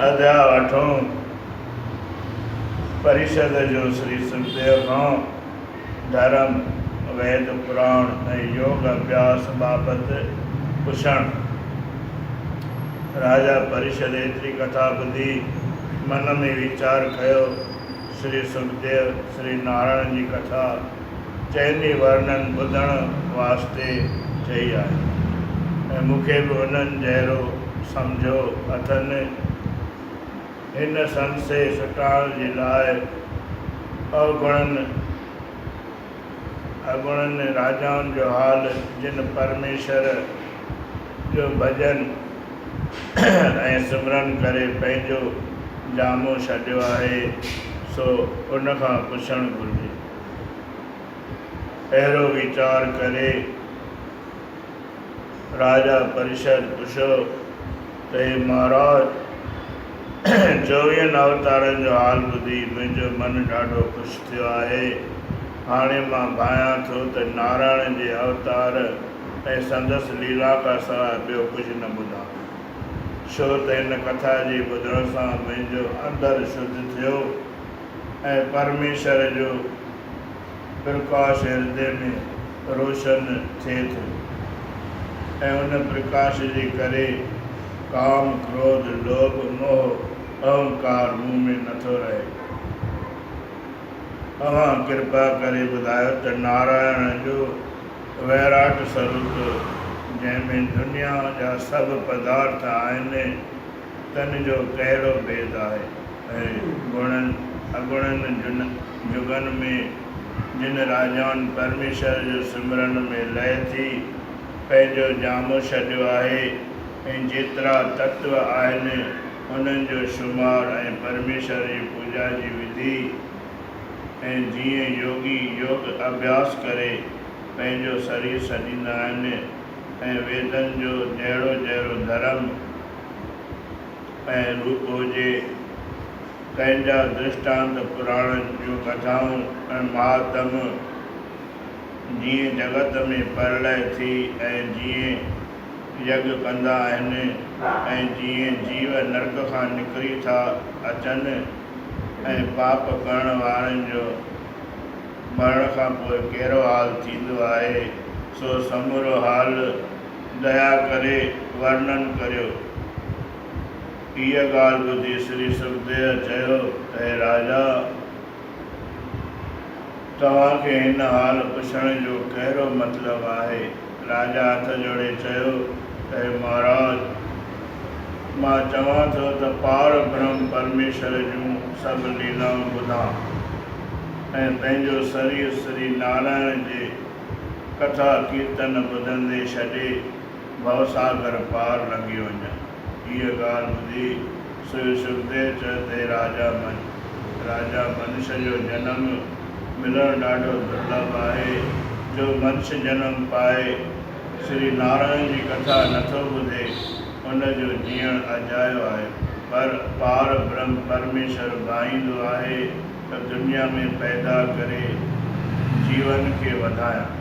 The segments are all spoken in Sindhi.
ادا اٺون پريشد جو سري سکديو کان ڌرم، ويد، پراڻ ۽ يوگ اڀياس بابت پڇڻ. راجا پريشد ايتري ڪٿا ٻڌي من ۾ ويچار ڪيو. شري سنڌديء شري نارائڻ جي ڪٿا چئني ورنن ٻڌڻ واسطي چئي آهي ۽ مون کي به انهن جهڙو سمجهيو اٿن. هن سندسي سٽاڻ جي لاء اوگڻن اڳوڻن راجائن جو حال جن پرميشور، جو ڀڄن ۽ سمرن ڪري پنهنجو جامو ڇڏيو آهي، سو ان کان پڇڻ گهرجي. اهڙو ويچار ڪري راجا پريشد پڇيو ته هي مهاراج! چوويهن اوتارن جو حال ٻڌي منهنجو من ڏاڍو خوش ٿيو آهي. هاڻي مان ڀانئيان ٿو ته نارائڻ جي اوتار، ۽ سندس ليلا کان سواء ٻيو ڪجهه نه ٻڌان، ڇو ته هن ڪٿا جي ٻڌڻ سان منهنجو اندر شڌ ٿيو ۽ پرميشور جو پرڪاش هردي ۾ روشن ٿئي ٿو ۽ ان پرڪاش جي ڪري ڪام، ڪروڌ، لوڀ، موهه، اهنڪار مون ۾ نه ٿو رهي. اوهان ڪرپا ڪري ٻڌايو ته نارائڻ جو. ويراٽ سروپ، جنهن ۾ دنيا جا سڀ پدارٿ آهن، تن جو ڪهڙو ڀيد آهي؟ ۽ گڻن اگڻن جن جڳن ۾، جن راجائن پرميشور جو سمرڻ ۾ لئه ٿي پنهنجو جامو ڇڏيو آهي ۽ جيترا تتو آهن، انهن جو شمار ۽ پرميشور جي پوڄا جي وڌي، ۽ جيئن يوگي يوگ اڀياس ڪري پنهنجو سرير سڄيندا آهن ۽ ويدن جو جهڙو جهڙو ڌرم ۽ روپ هجي، تنهن جا درشٽانت پراڻن جون ڪٿائون ۽ مهاتم جيئن جڳت ۾ پرلئه ٿي ۽ جيئن يگ ڪندا آهن ۽ جيئن جيو نرڪ کان نڪري ٿا اچن، ۽ پاپ ڪرڻ وارن جو مرڻ کان پوء ڪهڙو حال ٿيندو آهي، سو سمورو حال ديا ڪري ورنن ڪريو. هيء ڳالهه ٻڌي سري سکديو چيو ته هي راجا! توهان کي هن حال پڇڻ جو ڪهڙو مطلب آهي؟ راجا هٿ جوڙي چيو ته اي مهاراج! مان چوان ٿو ته پار برهم پرميشور جون سڀ ليلائون ٻڌان ۽ پنهنجو سرير سري نارائڻ جي ڪٿا ڪيرتن ٻڌندي ڇڏي ڀوساگر پار لنگهي وڃان. هيء ڳالهه ٻڌي سوء سکديو چه تي راجا من، راجا منش جو جنم ملڻ ڏاڍو درلڀ آهي، جو منش جنم پائي سري نارائڻ جي ڪٿا نٿو ٻڌي، ان جو جيئڻ اجايو آهي. پر پار برهم پرميشور ڀائيندو آهي ته دنيا ۾ پيدا ڪري جيون کي وڌايان.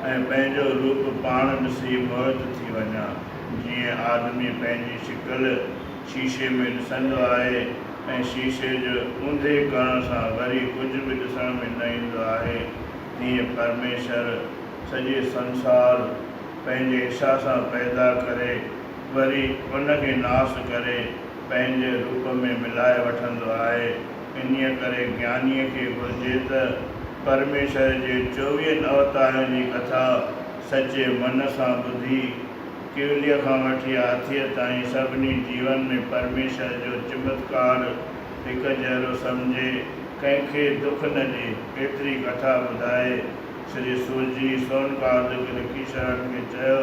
۽ پنهنجو روپ پاڻ ڏسي موهت ٿي وڃان، جيئن آدمي پنهنجي شڪل شيشي ۾ ڏسندو آهي ۽ شيشي جي اونڌي ڪرڻ سان وري ڪجهه به ڏسڻ ۾ نه ايندو آهي، تيئن پرميشور سڄي سنسار پنهنجي اڇا سان پيدا ڪري وري ان کي ناس ڪري پنهنجي روپ ۾ ملائي وٺندو آهي. انهيء ڪري گيانيء کي گهرجي ته پرميشور جي چوويهن اوتارن جي ڪٿا سچي من سان ٻڌي، ڪيوليء کان وٺي هاٿيء تائين سڀني جيون ۾ پرميشور جو چمتڪار هڪ جهڙو سمجهي، ڪنهن کي دک نه ڏي، ايتري ڪٿا ٻڌائي، شري سورجي سونڪاد گرڪيشورن کي چيو.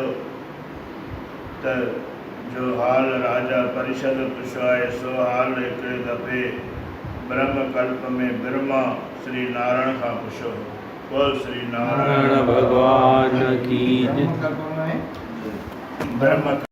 ته جو حال راجا پريشد پڇيو آهي سو حال هڪڙي دفعي برهم ڪلپ ۾ برهما سري نارڻ کان پڇيو هو. بول سري نارڻ ڀڳوان ڪي جي. برهما.